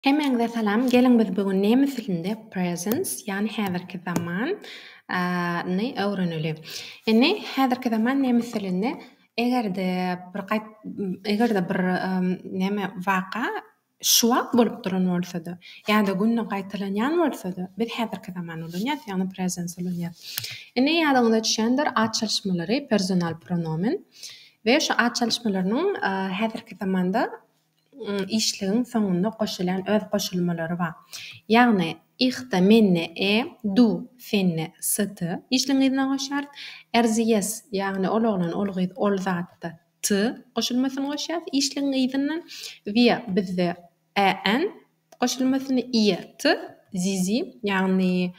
Hemmäňize salam, geliň biz bu gün nemes dilinde presence ýagny häzirki zaman ny öwreneli. Indi häzirki zaman nemes dilinde eger-de bir gaýt eger-de bir näme waka şu wagt bolup duran bolsada ýa-da günde gaýtalanýan bolsada biz häzirki zaman ulanýas ýagny presence ulanýas. Indi ýadyňyza düşendir at çalyşmalary personal pronomen we şu at çalyşmalarynyň häzirki zamanda işligiň soňunda goşulýan öz goşulmalary bar. Ýagny, ihta, menne, e, du, senne, sty, işligiň yzyna goşýarys. Erzyýes, ýagny, ol oglan, ol gyz, ol zatda, ty, goşulmasyny goşýarys işligiň yzyndan. Wýa, bizde, än, goşulmasyny, ýe, ty, zizi, ýagny,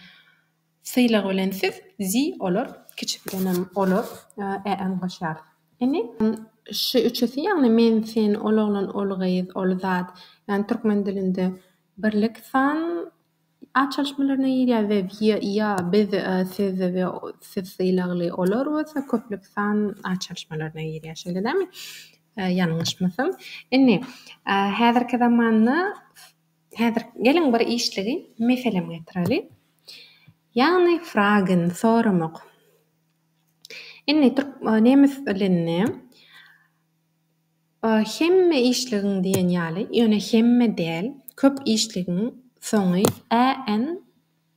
Sylag bilen siz zi olar kiçi bilenem olar ä ňňaşýar. Ini şu üçüsi ýagny men sen ol oglan ol gyz ol zat ýagny türkmen dilinde birlik san açalşmalaryna girýär we ýa ýa biz siz we siz sylagly olar bolsa köplük san açalşmalaryna girýär şeýle dämi ýalňyşmasam. Indi häzirki zamanda Häzir geliň bir işligi meselem getireli. Ýagny fragen, soramak. Indi türk nemes dilinde hemme işligiň diýen ýaly, ýöne hemme däl, köp işligiň soňy än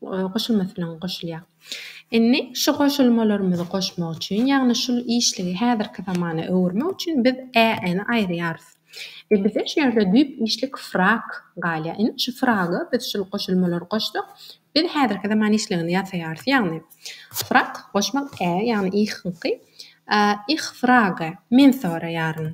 goşulmasynyň goşulýar. Indi şu goşulmalarymyzy goşmak üçin, ýagny şul işligi häzirki zamana öwürmek üçin biz ä-ni aýyrýarys. We bize şu ýerde düýp işlik frag galýar. Indi şu fraga biz şul goşulmalary goşsak, biz häzirki zaman işligini ýasaýarys. Ýagny frag goşmak ä, ýagny ihňki, Ich frage, men soraýaryn.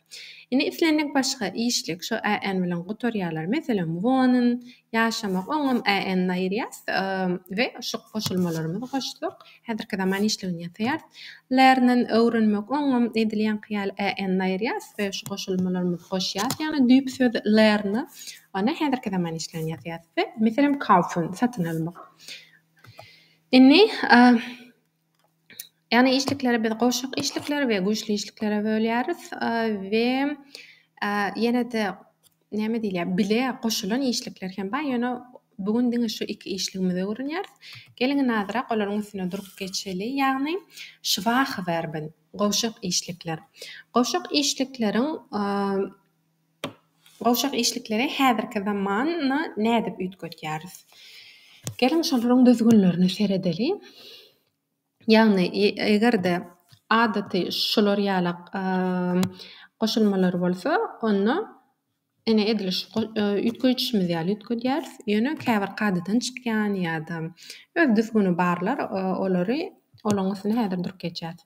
Indi islendik başga işlik şo AN bilen gutarýarlar. Meselem, wohnen, ýaşamak, oňam AN ni aýyrýas we şu goşulmalarymyzy goşsak, häzirki zaman işligini ýasaýarys. Lernen, öwrenmek, oňam edilýänki ýaly AN ni aýyrýas we şu goşulmalarymyzy goşýas, ýagny düýp söz ler ni, onda häzirki zaman işligini ýasaýarys we, meselem, kaufen, satyn almak. Indi, Ýagny işlikleri biz goşak işlikleri we güýçli işliklere bölýäris we ýene-de näme diýilýär, bile goşulan işlikler hem bar. Ýöne bu gün diňe şu iki işligimizi öwrenýäris. Geliň indi azyrak olaryň üstüne durup geçeli. Ýagny Schwache Verben, goşak işlikler. Goşak işlikleriň Gowşak işlikleri häzirki zamana nädip üýtgetýäris? Geliň, şolaryň düzgünlerine seredeliň. Ýagny, eger-de adaty şular ýaly goşulmalar bolsa, onda ine, edil şu üýtgeýjimiz ýaly üýtgedýäris. Ýöne käbir kadadan çykýan ýa-da öz düzgüni barlar, olary. Olaryň üstüne häzir durup geçýäris.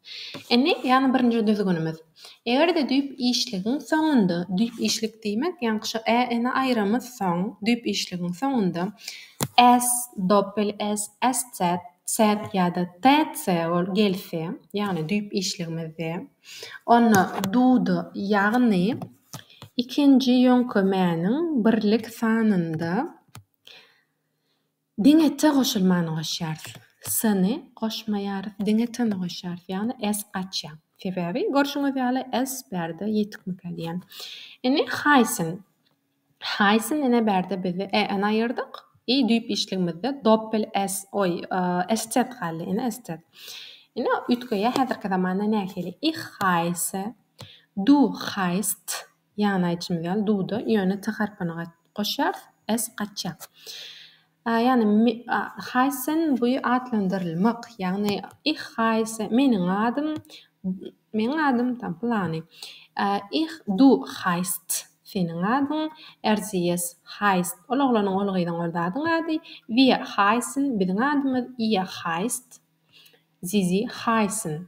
Indi ýagny birinji düzgünimiz. Eger-de düýp işligiň soňunda, düýp işlik diýmek, ýaňky şu ä, ä-ni aýramyz soň, düýp işligiň soňunda s, doppel s, st, set ýa-da tc bol gelse, ýagny düýp işligimizde, onda duda, ýagny ikinji ýöňkemäniň birlik sanynda, Diňe t goşulmany goşýarys. S-ni goşmaýarys, diňe t-ni goşýarys, ýagny s gaçýar. Sebäbi, görşüňiz ýaly, s bärde ýetikmikä diýýän. Indi Haýsyn. Haýsyn ene bärde biz e-ni aýyrdyk. I düýp işligimizde doppel s, oý, stet galdy, ene stet. Indi üýtgeýär häzirki zamanda nähili? Ich haýse, du haýst, Ýany aýtşym ýaly duda ýöne t harpyny gat goşýarys s gaçýar. A ýani me a Haýsen buý atlandyrylmak ýagny ih Haýse meniň adym meniň adym tam pylany a ih du haýst seniň adyň erziýes haýst ol oglanyň ol gyzyň ol zadyň ady wir haýsen biziň adymyz iýe haýst zizi haýsen.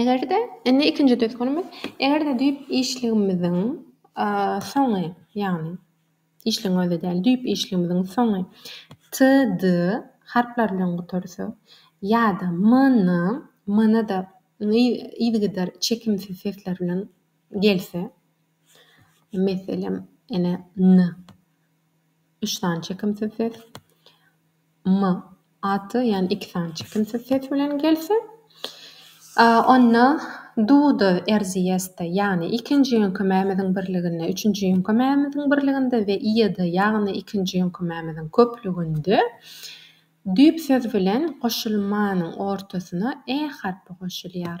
Eger-de, indi ikinji düzgünimiz, eger-de düýp işligimiziň soňy, ýagny işligiň özi däl, düýp işligimiziň soňy TD harplary bilen gutarsa ýa-da MN, MN-de yzygider çekimsiz sesler bilen gelse, meselem, ene, N, üç sany çekimsiz ses, M. Aty, ýagny iki sany çekimsiz ses bilen gelse, onda duda erzyýeste, ýagny ikinji ýüňki mämiziň birliginde, üçünji ýüňki mämiziň birliginde we ýyda, ýagny ikinji ýüňki mämiziň köplüginde düýp söz bilen goşulmanyň ortasyna e harpy goşulýar.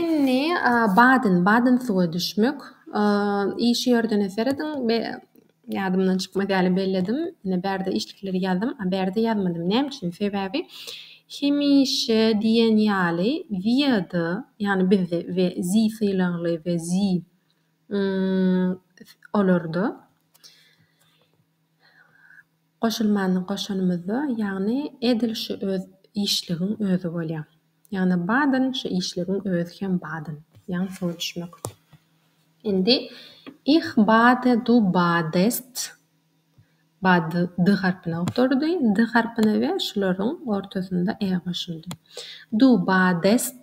Indi badyn badyn suwa düşmek işi ýördene serediň be ýadymdan çykmaz ýaly belledim ine bärde işlikleri ýazdym a bärde ýazmadym näme üçin sebäbi hemişe diýen ýaly wiada ýagny bizde we zi sylagly we zi olarda Goşulmany goşanymyzda, ýagny edil şu öz işligiň özi bolýar. Ýagny badyn şu işligiň özi hem badyn. Ýagny şoňa düşmek üçin. Indi Ich bade, du badest. Bad d harpyna oturdy. D harpyna we şularyň ortasynda e goşuldy. Du badest.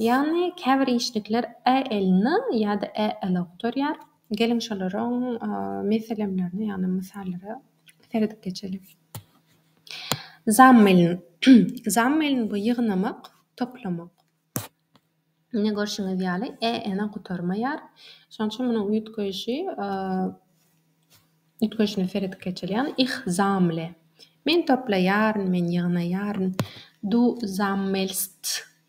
Ýagny käbir işlikler ä elini ýa-da ä eli gutaryar. Geliň şolaryň meselemlerine ýagny mysallara seredip geçeliň. Zammiln. Zammiln bu ýygnamak, toplamak. Ine görşüňiz ýaly ä eni gutarmaýar. Şonuň üçin munuň üýtgeýşi üýtgeýşine seredip geçeliň. Ich sammle. Men toplaýaryn, men ýygnaýaryn. Du sammelst.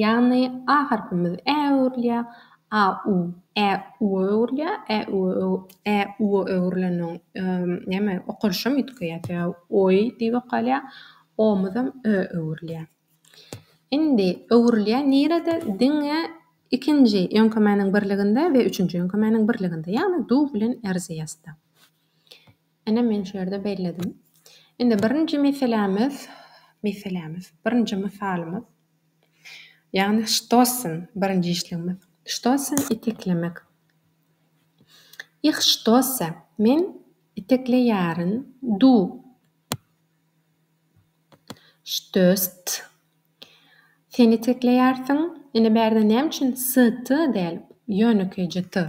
Ýagny a harpymyz ä öwrülýär, a u, ä uwa öwrülýär, ä uwa öw, ä uwa öwrüleniň näme okalyşam üýtgeýär, ä oý diýip okalýar, omuzam ö öwrülýär. Indi öwrülýär nirede? Diňe ikinji ýöňkemäniň birliginde we üçünji ýöňkemäniň birliginde, ýagny du bilen erziýasda. Ine men şu ýerde belledim. Indi birinji meselämiz, meselämiz, birinji mysalymyz, ýagny stossen, birinji işligimiz. Stossen iteklemek. Ich stosse, men itekleýärin, du stösst, sen itekleýärsiň. Indi bärde näme üçin s-t däl, ýönekeýje t?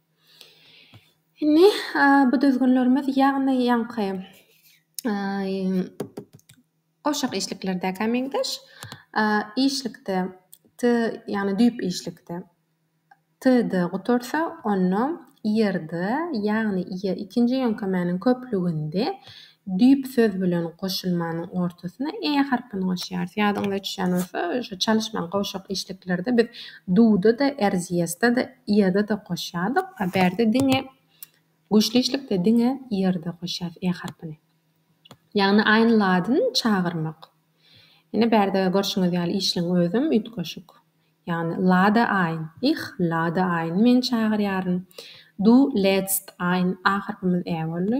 Indi bu düzgünlerimiz, ýagny ýaňky gowşak işliklerdäkä meňzeş. Işlikde t, ýagny düýp işlikde td gutarsa, onda ýerde, ýagny ýe ikinji ýöňkemäniň köplüginde Düýp söz bilen goşulmanyň ortasyna e harpyny goşýarys. Ýadyňyza düşýän bolsa, şu çalyşmaň gowşak işliklerde biz du-da-da, erzyýesda-da, ýa-da-da goşýardyk. A bärde diňe güýçli işlikde diňe ýerde goşýarys e harpyny. Ýagny aýnladyn çagyrmak. Ine, bärde görşüňiz ýaly işligiň özem üýtgeşik. Ýagny lada ein, ich lade ein, men çagyrýaryn. Du lädst ein, a harpymyz ä boldy.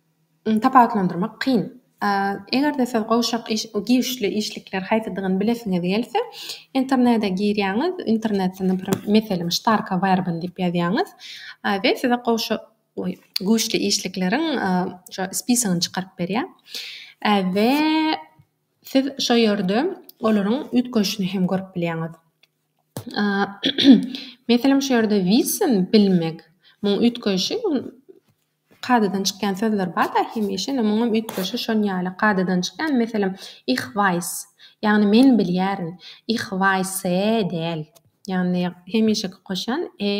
Tapawutlandyrmak kyn. Eger-de siz gowşak iş güýçli işlikler haýsydygyny bilesiňiz gelse, internete girýäňiz, internetde, naprimr, meselem, ştarka werben diýip ýazýaňyz we size gowşak, oý, güýçli işlikleriň şo spisagyny çykaryp berýär we siz şo ýerde olaryň üýtgeşini hem görüp bilýäňiz. Meselem, şu ýerde wissen, bilmek, muň üýtgeşi, kadadan çykýan sözler bar-da, hemişe, ine, muňam üýtgeşi şon ýaly kadadan çykýan. Meselem, Ich weiß, ýagny men bilýärin. Ich weisse däl. Ýagny hemişeki goşýan e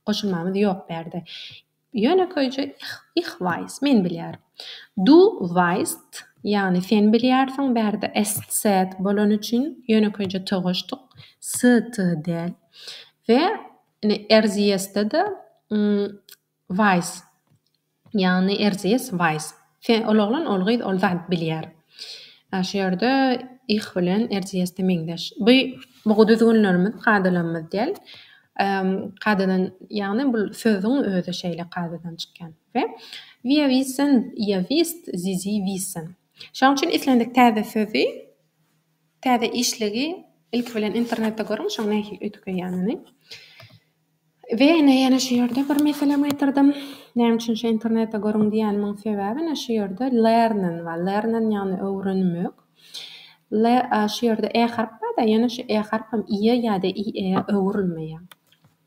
goşulmamyz ýok bu ýerde. Ýönekeýje Ich weiß, men bilýärin. Du weißt, ýagny sen bilýärsiň. Bu ýerde es, set bolany üçin ýönekeýje t goşduk. S, t däl. We Ine RZS-de-de Wise. Ýagny RZS Wise. Sen ol oglan, ol gyz ol zat bilýär. Ýa şu ýerde ih bilen RZS-de meňzeş. Bu bu düzgünlerimiz, kadalarymyz däl. Kadadan ýagny bul sözüň özi şeýle kadadan çykýan. We wir wissen, ihr wisst, sie, sie wissen. Şonuň üçin islendik täze sözi. Täze işligi ilki bilen internetde görüň şoň nähili üýtgeýänini. We ine ýene şu ýerde bir meselem getirdim. Näme üçin şu internetde görüň diýenimiň sebäbi ine şu ýerde learnen bar. Learnen ýagny öwrenmek. Le şu ýerde e harp barda ýene şu e harpam ie ýa-da ie öwrülmeýär.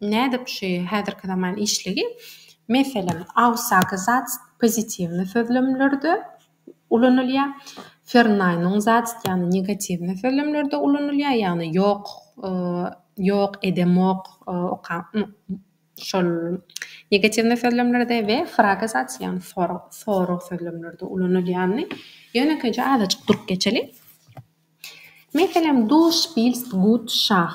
Nädip şu häzirki zaman işligi, meselem, awsaky zat pozitiwny sözlemlerde ulanylýar, fernaýnyň zat ýagny negatiwny sözlemlerde ulanylýar, ýagny ýok, ýok edemok, şol negatiwny sözlemlerde we frage zat ýagny sorag sözlemlerde ulanylýany ýönekeýje azajyk durup geçeli. Meselem, du spilst gut şah.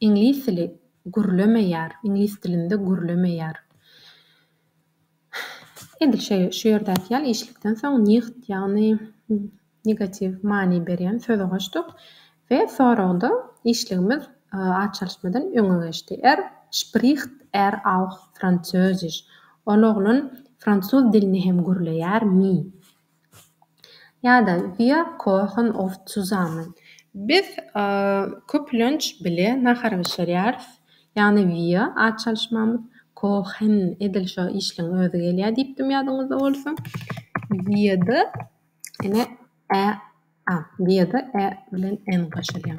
Iňlis dili gürlemeýär, iňlis dilinde gürlemeýär. Edil şeý, şu ýerdäki ýaly işlikden soň nigt, ýagny negatiw many berýän sözi goşduk we soragda işligimiz a çalyşmadan öňe geçdi. Er spricht er auch Französisch, Ol oglan fransuz dilini hem gürleýärmi? Ýa-da Wir kochen oft zusammen. Biz köplenç bile nahar bişirýäris. Ýagny wir, at çalyşmamyz, kochen, edil şo işligiň özi gelýär diýipdim ýadyňyzda bolsa. Wir-de ene ä, a, wir-de ä bilen n goşulýar.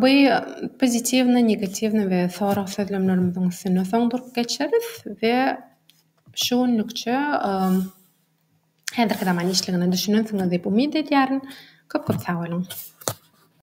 Bu pozitiwnyý, negatiwnyý we sorag sözlemlerimiziň üstünde soň durup geçeris we şu günlükçe häzirki zaman işligine düşünensiňiz diýip umyt edýärin. Köp-köp sag boluň!